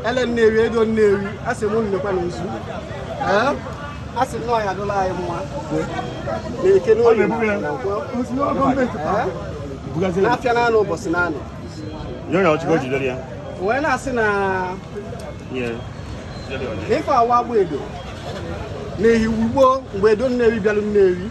ele nnewi edo nnewi a sị m unu nekwanụ nzu Ee? a sị na ọ ya adụla anyị mma na eke n'oye na na nkwọ Ee? Bugaziri. n'afịa naanọ ụbọchị naanọ Nye onye ọchịkọ jidere ya. wee na-asị na Nye. Jidere ya. na ife awa agba edo na ehiwu gboo mgbe edo nnewi bịalụ nnewi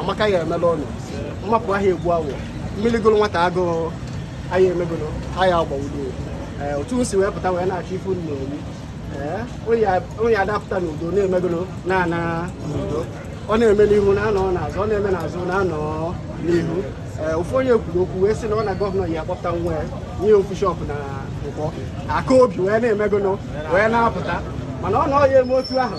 amaka ya emela ọnụ mmapụ ahịa egbu awọ mmiri gụrụ nwata agụụ anyị emegolo anyị agba edo eh, otu m si wee pụta wee na-achọ ife m na-eri eh, onye na-apụta n'udo na-emegolo na-ana n'udo ọ na-eme n'ihu na-anọ n'azụ ọ na-eme n'azụ na-anọ n'ihu eh, ofu onye kwuru okwu wee sị na ọ na gọvanọ ya akpọpụta nwa ya nye ofu shọpụ na nkwọ aka obi wee na-emegolo wee na-apụta mana ọ na ọ ya eme otu ahụ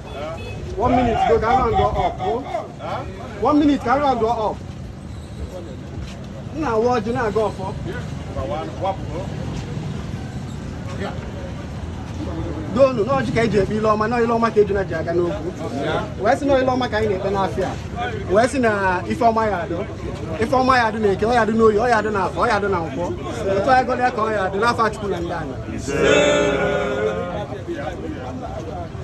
One minute, go down and go up. Oh. One minute, carry and go up. Now what you now go for? doonu na ọjị ka e ji ekpe ile ọma na ile ọma ka ejuna ji aga n'ogwu wee sị na ile ọma ka anyị na-ekpe n'afịa wee sị na ife ọma ya adụ ife ọma ya adụ na eke ọ ya adụ n'oye ọ ya adụ na afọ ọ ya adụ na nkwọ otu anyị gọrọ ya ka ọ ya adụ n'afa chukwu na ndị anyị